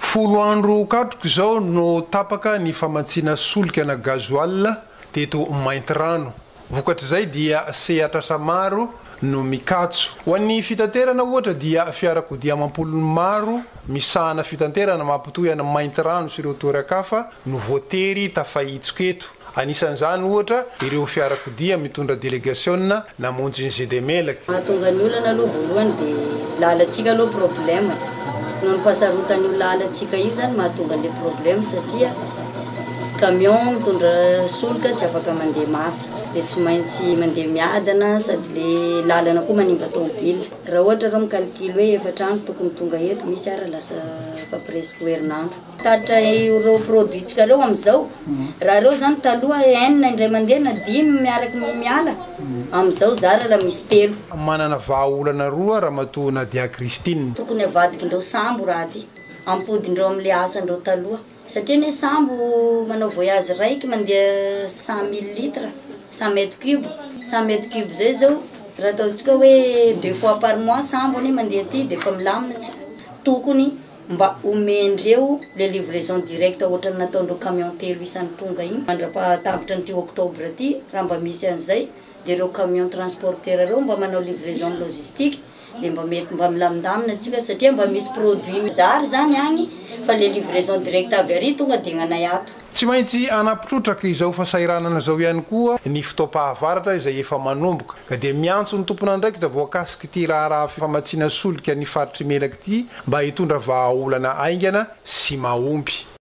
Folo andro katroka izao no tapaka ny famatsiana solika na gasoil teto Maintirano. Vokatr'izay dia sehatr'asa maro no mikatso. Ho an'ny fitaterana ohatra dia fiarakodia amam-polony maro misahana fitanterana mampitohy an'i Maintirano sy ireo toeran-kafa no voatery tafahitsoka eto. Anisan'izany, ohatra, ireo fiarakodia mitondra delegasiona namonjy ny Zedemelec. Mahatonga ny olana aloha voalohany dia lalantsika aloha problème e. Noho ny fahasarotan'io lalantsika io zany mahatonga an'ilay problème satria camion mitondra solika tsy afaka mandeha mafy dia tsy maintsy mandeha miadana sady le lalana koa manimba tomobile. Raha ohatra reo mi-calcul hoe efatra andro tokony tonga eto, misy ara lasa efa presque ho herinandro. Tatitra ireo produit tsika reo amizao raha reo zany taloha enina indray mandeha na dimy miaraky ny miala amizao zara raha misy telo. Manana vaha olana roa ramatoa Nadia Christine. Tokony avadikindreo sambo raha ty ampodindreo amle asandreo taloha satria anie sambo manao voyage raiky mandeha cent mille litre cent mètre cube cent mètre cube zay zao raha ataontsika oe deux fois par mois sambo anie mandeha aty defa milamina tsika tokony mba omen'ireo le livraison directe ohatrany nataon'ireo camion telo isany tonga iny mandrapahatambitra an'ity octobre ity raha mba misy an'izay dia ireo camion transporteur ireo mba manao livraison logistique dia mba mety mba milamindamina antsika satria mba misy produit mijary izany agny fa le livraison directe avy ary tonga dia ny anay ato. Tsy maintsy hanampitrotraka izao fasahiranana izao ihany koa ny fotoam-pahavaratra izay efa manomboka, ka dia miantso ny tompon'andraikitra voakasik'ity raharaha famatsiana solika ny faritr'Imelaka ity mba hitondra vahaolana haingana sy mahomby.